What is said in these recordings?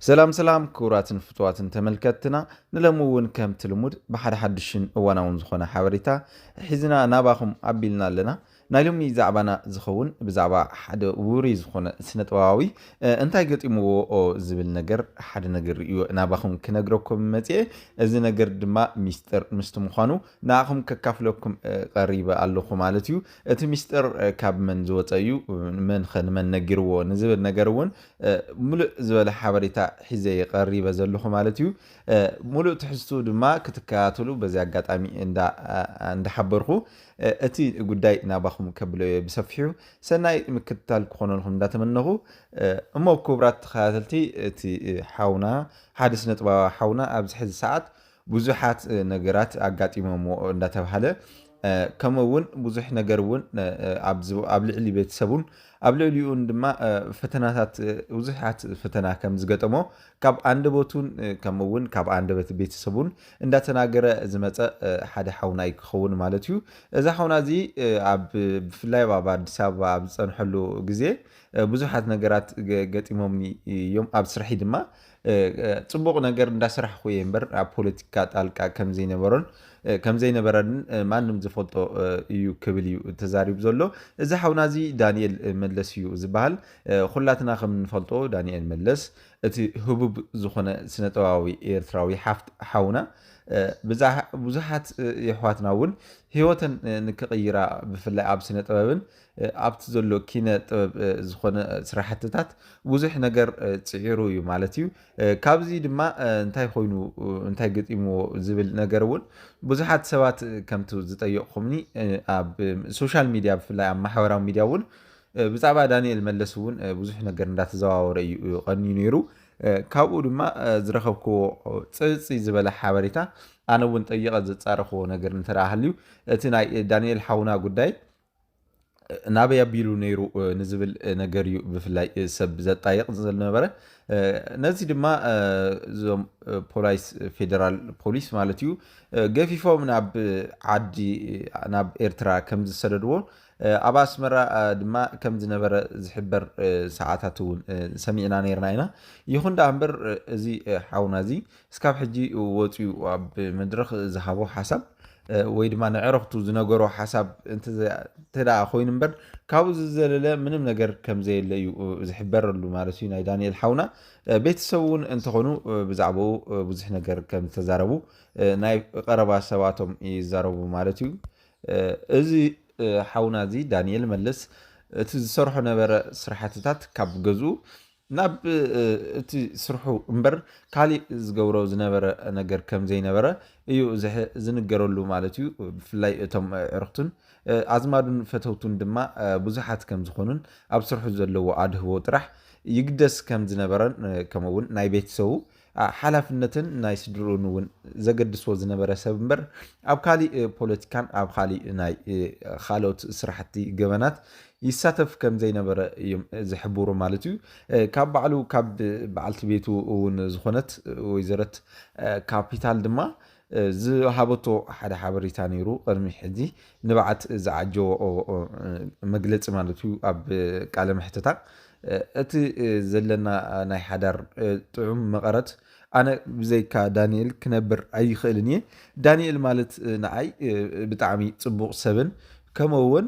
ሰላም ሰላም ክቡራትን ፍቱዋትን ተመልከትትና ንለሚ እውን ከምቲ ልሙድ ብሓደ ሓዱሽን እዋናውን ዝኾነ ሓበሬታ ሒዝና ናባኹም ኣቢልና ኣለና ናይ ሎሚ ዛዕባና ዝኸውን ብዛዕባ ሓደ ውሩይ ዝኾነ ስነጥበባዊ እንታይ ገጢምዎ ዝብል ነገር ሓደ ነገር እዩ ናባኹም ክነግረኩም መፅኤ እዚ ነገር ድማ ሚስጥር ምስቲ ምዃኑ ንኣኹም ከካፍለኩም ቐሪበ ኣለኹ ማለት እዩ። እቲ ምስጢር ካብ መን ዝወጸ እዩ? መንኸ ንመን ነጊርዎ? ንዝብል ነገር እውን ምሉእ ዝበለ ሓበሬታ ሒዘ እየ ቐሪበ ዘለኹ ማለት እዩ። ምሉእ ትሕዝትኡ ድማ ክትከታተሉ በዚ ኣጋጣሚ እንዳሓበርኹ እቲ ጉዳይ ናባኹም ከብሎ እየ ብሰፊሑ። ሰናይ ምክትታል ክኾነልኩም እንዳተመነኹ እሞ ክቡራት ተኸታተልቲ እቲ ሓውና ሓደ ስነጥበባዊ ሓውና ኣብዚ ሕዚ ሰዓት ብዙሓት ነገራት ኣጋጢሞምዎ እንዳተባሃለ ከምኡ እውን ብዙሕ ነገር እውን ኣብ ልዕሊ ቤተሰቡን ኣብ ልዕሊኡን ድማ ፈተናታት ብዙሓት ፈተና ከም ዝገጠሞ ካብ ኣንደበቱን ከምኡ እውን ካብ ኣንደበት ቤተሰቡን እንዳተናገረ ዝመፀ ሓደ ሓውና እዩ ክኸውን ማለት እዩ እዛ ሓውና እዚ ኣብ ብፍላይ ኣብ ኣዲስ ኣበባ ኣብ ዝፀንሐሉ ግዜ ብዙሓት ነገራት ገጢሞምኒ እዮም ኣብ ስርሒ ድማ ፅቡቕ ነገር እንዳስራሕኹ እየ እምበር ኣብ ፖለቲካ ጣልቃ ከምዘይነበሮን ከምዘይነበረን ማንም ዝፈልጦ እዩ ክብል እዩ ተዛሪቡ ዘሎ። እዚ ሓውና እዚ ዳንኤል መለስ እዩ ዝበሃል። ኹላትና ከም እንፈልጦ ዳንኤል መለስ እቲ ህቡብ ዝኾነ ስነጥበባዊ ኤርትራዊ ሓፍት ሓውና ብዙሓት የሕዋትና እውን ህይወተን ንክቕይራ ብፍላይ ኣብ ስነጥበብን ኣብቲ ዘሎ ኪነ ጥበብ ዝኾነ ስራሕትታት ብዙሕ ነገር ፅዒሩ እዩ ማለት እዩ። ካብዚ ድማ እንታይ ኮይኑ እንታይ ገጢምዎ ዝብል ነገር እውን ብዙሓት ሰባት ከምቲ ዝጠየቕኹምኒ ኣብ ሶሻል ሚዲያ ብፍላይ ኣብ ማሕበራዊ ሚዲያ እውን ብዛዕባ ዳንኤል መለስ እውን ብዙሕ ነገር እንዳተዘዋወረ እዩ ቀንዩ ነይሩ። ካብኡ ድማ ዝረኸብክዎ ፅፅይ ዝበለ ሓበሬታ ኣነ እውን ጠይቐ ዘፃረኽዎ ነገር እንተደኣ ሃልዩ እቲ ናይ ዳንኤል ሓውና ጉዳይ ናበይ ኣቢሉ ነይሩ ንዝብል ነገር እዩ ብፍላይ ሰብ ዘጣይቕ ዝነበረ ነዚ ድማ እዞም ፖላይስ ፌደራል ፖሊስ ማለት እዩ ገፊፎም ናብ ዓዲ ናብ ኤርትራ ከም ዝሰደድዎ ኣብ ኣስመራ ድማ ከም ዝነበረ ዝሕበር ሰዓታት እውን ሰሚዕና ነርና ኢና ይኹን ደኣ እምበር እዚ ሓውና እዚ እስካብ ሕጂ ወጽዩ ኣብ መድረኽ ዝሃቦ ሓሳብ ወይ ድማ ንዕረኽቱ ዝነገሮ ሓሳብ እንተ ኮይኑ እምበር ካብኡ ዝዘለለ ምንም ነገር ከም ዘየለ እዩ ዝሕበረሉ ማለት እዩ ናይ ዳንኤል ሓውና ቤተሰብ እውን እንተኾኑ ብዛዕባኡ ብዙሕ ነገር ከም ዝተዛረቡ ናይ ቀረባ ሰባቶም ይዛረቡ ማለት እዩ እዚ ሓውና እዚ ዳንኤል መለስ እቲ ዝሰርሖ ነበረ ስራሕትታት ካብ ገዝኡ ናብ እቲ ስርሑ እምበር ካሊእ ዝገብሮ ዝነበረ ነገር ከም ዘይነበረ እዩ ዝንገረሉ ማለት እዩ። ብፍላይ እቶም ኣዕርኽቱን ኣዝማዱን ፈተውቱን ድማ ብዙሓት ከም ዝኾኑን ኣብ ስርሑ ዘለዎ ኣድህቦ ጥራሕ ይግደስ ከም ዝነበረን ከምኡ'ውን ናይ ቤተሰቡ ሓላፍነትን ናይ ስድርኡን እውን ዘገድሶ ዝነበረ ሰብ እምበር ኣብ ካሊእ ፖለቲካን ኣብ ካሊእ ናይ ካልኦት ስራሕቲ ገበናት ይሳተፍ ከም ዘይነበረ እዮም ዝሕብሩ ማለት እዩ። ካብ ባዕሉ ካብ በዓልቲ ቤቱ እውን ዝኾነት ወይዘረት ካፒታል ድማ ዝሃበቶ ሓደ ሓበሬታ ነይሩ ቅድሚ ሕዚ ንብዓት ዝዓጀዎ መግለፂ ማለት እዩ ኣብ ቃለ መሕተታ እቲ ዘለና ናይ ሓዳር ጥዑም መቐረት ኣነ ብዘይካ ዳኒኤል ክነብር ኣይኽእልን እየ ዳኒኤል ማለት ንዓይ ብጣዕሚ ፅቡቕ ሰብን ከምኡ እውን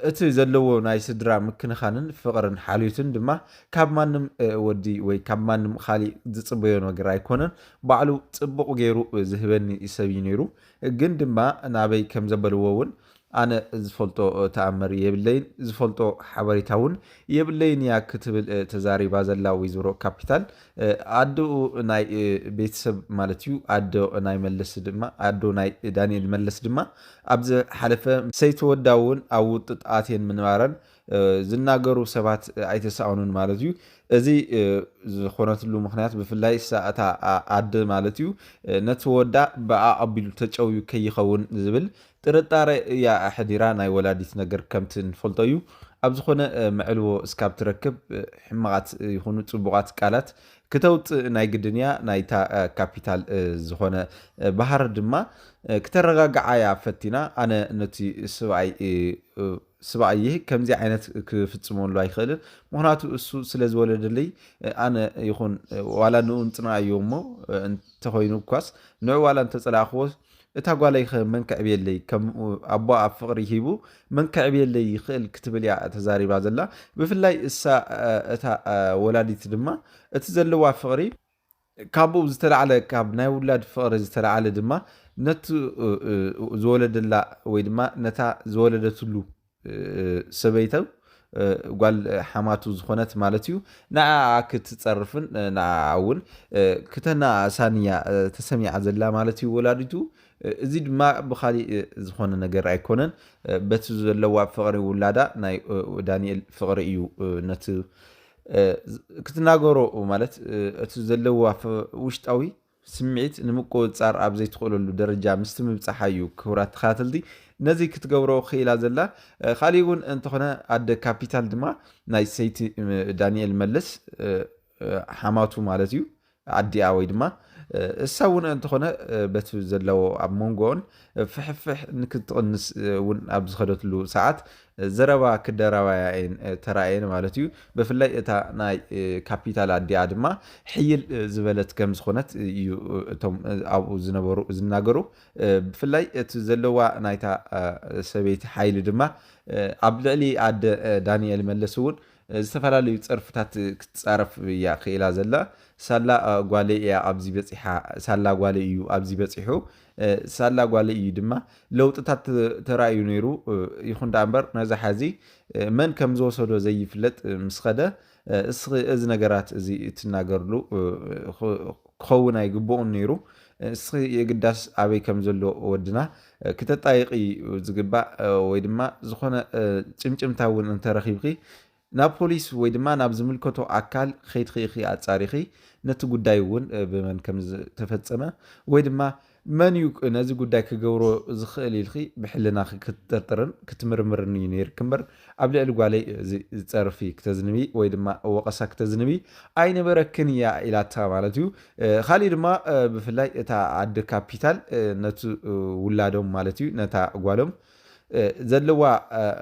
እቲ ዘለዎ ናይ ስድራ ምክንኻንን ፍቕርን ሓልዮትን ድማ ካብ ማንም ወዲ ወይ ካብ ማንም ኻሊእ ዝጽበዮ ነገር ኣይኮነን። ባዕሉ ጽቡቕ ገይሩ ዝህበኒ ሰብ እዩ ነይሩ። ግን ድማ ናበይ ከም ዘበልዎ እውን ኣነ ዝፈልጦ ተኣምር የብለይን፣ ዝፈልጦ ሓበሬታ እውን የብለይን እያ ክትብል ተዛሪባ ዘላ ወይዘሮ ካፒታል፣ ኣደኡ ናይ ቤተሰብ ማለት እዩ። ኣዶ ናይ መለስ ድማ ኣዶ ናይ ዳኒኤል መለስ ድማ ኣብ ዝሓለፈ ምስ ሰይቲ ወዳ እውን ኣብ ውጥጥ ኣትየን ምንባረን ዝናገሩ ሰባት ኣይተሳእኑን ማለት እዩ። እዚ ዝኾነትሉ ምክንያት ብፍላይ እሳ እታ ኣደ ማለት እዩ ነቲ ወዳ ብኣ ኣቢሉ ተጨውዩ ከይኸውን ዝብል ጥርጣረ እያ ኣሕዲራ ናይ ወላዲት ነገር ከምቲ ንፈልጦ እዩ ኣብ ዝኾነ መዕልቦ እስካብ ትረክብ ሕማቓት ይኹኑ ጽቡቓት ቃላት ክተውጽእ ናይ ግድን እያ ናይታ ካፒታል ዝኾነ ባህር ድማ ክተረጋግዓ እያ ፈቲና ኣነ ነቲ ስብኣይ ስብኣየ ከምዚ ዓይነት ክፍጽመሉ ኣይኽእልን ምክንያቱ እሱ ስለ ዝወለደለይ ኣነ ይኹን ዋላ ንኡ እንጽንኣዮ እሞ እንተኾይኑ እኳስ ንዑ ዋላ እንተጸላእኽዎ እታ ጓለይ'ኸ መን ከዕብየለይ ከም ኣቦኣ ፍቕሪ ሂቡ መን ከዕብየለይ ይኽእል ክትብል'ያ ተዛሪባ ዘላ። ብፍላይ እሳ እታ ወላዲት ድማ እቲ ዘለዋ ፍቕሪ ካብኡ ብዝተላዕለ ካብ ናይ ውላድ ፍቕሪ ዝተላዕለ ድማ ነቲ ዝወለደላ ወይ ድማ ነታ ዝወለደትሉ ሰበይቱ ጓል ሓማቱ ዝኾነት ማለት እዩ፣ ንዓኣ ክትጸርፍን ንዓኣ እውን ክተነኣእሳን እያ ተሰሚዓ ዘላ ማለት እዩ ወላዲቱ። እዚ ድማ ብኻሊእ ዝኾነ ነገር ኣይኮነን፣ በቲ ዘለዋ ፍቕሪ ውላዳ ናይ ዳንኤል ፍቕሪ እዩ ነቲ ክትናገሮ ማለት እቲ ዘለዋ ውሽጣዊ ስምዒት ንምቁጽጻር ኣብ ዘይትኽእለሉ ደረጃ ምስቲ ምብጻሓ እዩ ክቡራት ተኸታተልቲ ነዚ ክትገብሮ ክኢላ ዘላ ካሊእ እውን እንተኾነ ኣደ ካፒታል ድማ ናይ ሰይቲ ዳንኤል መለስ ሓማቱ ማለት እዩ ኣዲኣ ወይ ድማ እሳ እውን እንተኾነ በቲ ዘለዎ ኣብ መንጎኦን ፍሕፍሕ ክትቕንስ እውን ኣብ ዝኸደትሉ ሰዓት ዘረባ ክደራባያ እየን ተራእየን ማለት እዩ። ብፍላይ እታ ናይ ካፒታል ኣዲኣ ድማ ሕይል ዝበለት ከም ዝኾነት እዩ እቶም ኣብኡ ዝነበሩ ዝናገሩ። ብፍላይ እቲ ዘለዋ ናይታ ሰበይቲ ሓይሊ ድማ ኣብ ልዕሊ ኣደ ዳንኤል መለስ እውን ዝተፈላለዩ ጸርፍታት ክትጻረፍ እያ ክኢላ ዘላ። ሳላ ጓለይ እያ ኣብዚ በጺሓ፣ ሳላ ጓለይ እዩ ኣብዚ በጺሑ ሳላ ጓለይ እዩ ድማ ለውጥታት ተራእዩ ነይሩ። ይኹን ደኣ እምበር ነዚ ሓዚ መን ከም ዝወሰዶ ዘይፍለጥ ምስ ኸደ እስኺ እዚ ነገራት እዚ እትናገርሉ ክኸውን ኣይግብኡን ነይሩ። እስኺ የግዳስ ኣበይ ከም ዘሎ ወድና ክተጣይቂ እዩ ዝግባእ ወይ ድማ ዝኾነ ጭምጭምታ እውን እንተረኺብኺ ናብ ፖሊስ ወይ ድማ ናብ ዝምልከቶ ኣካል ኼድኺ ኢኺ ኣጻሪኺ ነቲ ጉዳይ እውን ብመን ከም ዝተፈጸመ ወይ ድማ መን እዩ ነዚ ጉዳይ ክገብሮ ዝኽእል ኢልኺ ብሕልናኺ ክትጥርጥርን ክትምርምርን እዩ ነይርኪ እምበር ኣብ ልዕሊ ጓለይ እዚ ጸርፊ ክተዝንቢ ወይ ድማ ወቐሳ ክተዝንቢ ኣይነበረክን እያ ኢላታ ማለት እዩ ኻሊእ ድማ ብፍላይ እታ ኣደ ካፒታል ነቲ ውላዶም ማለት እዩ ነታ ጓሎም ዘለዋ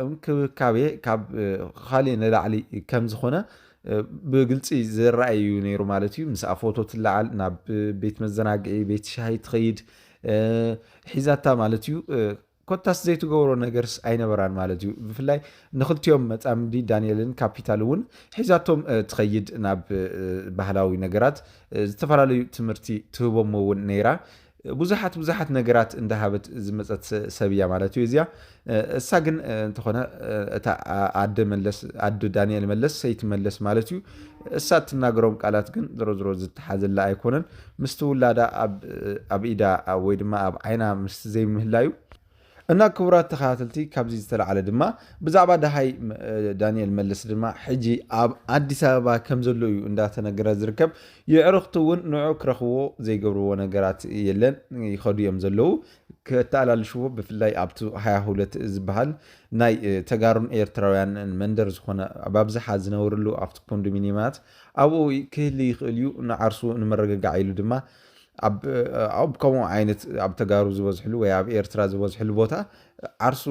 እንክብካቤ ካብ ኻሊእ ንላዕሊ ከም ዝኾነ ብግልፂ ዝረኣይ እዩ ነይሩ ማለት እዩ። ምስኣ ፎቶ ትለዓል፣ ናብ ቤት መዘናግዒ፣ ቤት ሻሂ ትኸይድ ሒዛታ ማለት እዩ። ኮታስ ዘይትገብሮ ነገርስ ኣይነበራን ማለት እዩ። ብፍላይ ንክልቲኦም መፃምዲ ዳንኤልን ካፒታል እውን ሒዛቶም ትኸይድ ናብ ባህላዊ ነገራት ዝተፈላለዩ ትምህርቲ ትህቦም እውን ነይራ። ብዙሓት ብዙሓት ነገራት እንዳሃበት ዝመጸት ሰብ እያ ማለት እዩ እዚኣ እሳ ግን እንተኾነ እታ ኣደ መለስ ኣደ ዳንኤል መለስ ሰይቲ መለስ ማለት እዩ እሳ እትናገሮም ቃላት ግን ዝሮ ዝሮ ዝተሓዘላ ኣይኮነን ምስቲ ውላዳ ኣብ ኢዳ ወይ ድማ ኣብ ዓይና ምስቲ ዘይምህላዩ እና ክቡራት ተኸታተልቲ ካብዚ ዝተላዕለ ድማ ብዛዕባ ደሃይ ዳንኤል መለስ ድማ ሕጂ ኣብ ኣዲስ ኣበባ ከም ዘሎ እዩ እንዳተነገረ ዝርከብ የዕርኽቱ እውን ንዑ ክረኽብዎ ዘይገብርዎ ነገራት የለን ይኸዱ እዮም ዘለዉ ከተኣላልሽዎ ብፍላይ ኣብቲ ሃያ ሁለት ዝበሃል ናይ ተጋሩን ኤርትራውያን መንደር ዝኾነ ኣብኣብዝሓ ዝነብርሉ ኣብቲ ኮንዶሚኒየማት ኣብኡ ክህሊ ይኽእል እዩ ንዓርሱ ንመረገጋዕ ኢሉ ድማ ኣብ ኣብ ከምኡ ዓይነት ኣብ ተጋሩ ዝበዝሕሉ ወይ ኣብ ኤርትራ ዝበዝሕሉ ቦታ ዓርሱ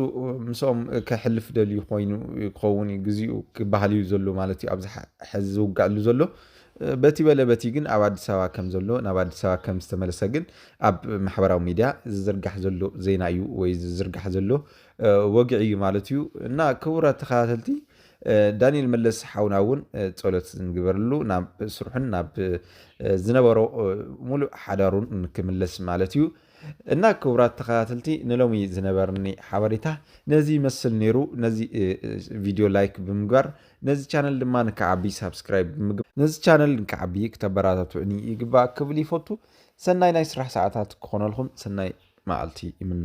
ምስኦም ከሕልፍ ደልዩ ኮይኑ ክኸውን እዩ ግዜኡ ክበሃል እዩ ዘሎ ማለት እዩ ኣብዚ ሕዚ ዝውጋዕሉ ዘሎ በቲ በለ በቲ ግን ኣብ ኣዲስ ኣበባ ከም ዘሎ ናብ ኣዲስ ኣበባ ከም ዝተመለሰ ግን ኣብ ማሕበራዊ ሚድያ ዝዝርጋሕ ዘሎ ዜና እዩ ወይ ዝዝርጋሕ ዘሎ ወግዒ እዩ ማለት እዩ እና ክቡራት ተኸታተልቲ ዳኒኤል መለስ ሓውና እውን ጸሎት ንግበርሉ ናብ ስርሑን ናብ ዝነበሮ ሙሉእ ሓዳሩን ንክምለስ ማለት እዩ እና ክቡራት ተኸታተልቲ ንሎሚ ዝነበርኒ ሓበሬታ ነዚ ይመስል ነይሩ። ነዚ ቪድዮ ላይክ ብምግባር ነዚ ቻነል ድማ ንክዓቢ ሳብስክራይብ ብምግባር ነዚ ቻነል ንክዓቢ ክተበራታትዑኒ ይግባእ ክብል ይፈቱ። ሰናይ ናይ ስራሕ ሰዓታት ክኾነልኩም ሰናይ መዓልቲ ይምነ።